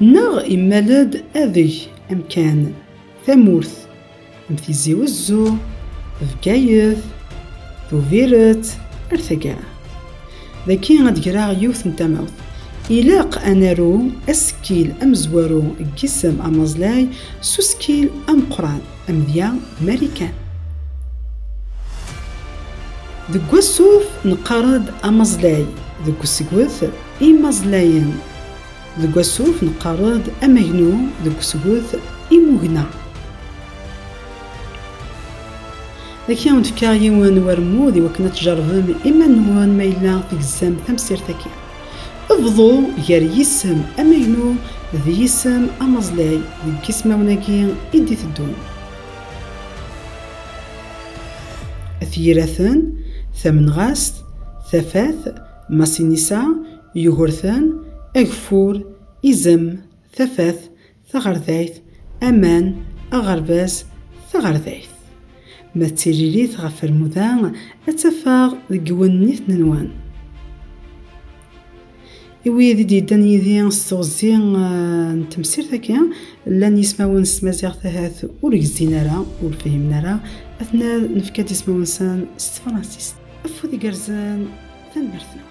Neɣ immal-d adeg, amkan, tamurt, am Tizi Wezzu, Bgayet, Tubiret, ar taggara. Dagi ad d-greɣ yiwet n tamawt. Ilaq ad naru asekkil amezwaru n yisem amaẓlay s usekkil ameqqran, amedya Marikan. Deg wassuf neqqar-d amaẓlay, deg usegget I imaẓlayen, deg wasuf neqqar-d amagnu deg usgut imugna. Dagi ad wen-fkeɣ yiwen warmud iwakken ad tjervem iman-nwen ma yella tegzam tamsirt-agi. Bḍu gar yisem amagnu d yisem amaẓlay deg yismawen-agi i d-iteddun. At yiraten, tamenɣast, tafat, Masinisa, Yugurten, Ageffur, Izem, Tafat, Taɣerdayt, Aman, Aɣerbaz, Taɣerdayt. Ma d tiririt ɣef rmuda, ad tafeɣ deg yiwen n yitnenwan. I wid i d-yeddan yid-i s teɣzi eh, n temsirt-agi, llan yismawen s tmaziɣt ahat ur gzin ara, ur fhimen ara, ad nefka-d ismawen-nsen s tefransist. Afud igerrzen, tanemmirt-nwen.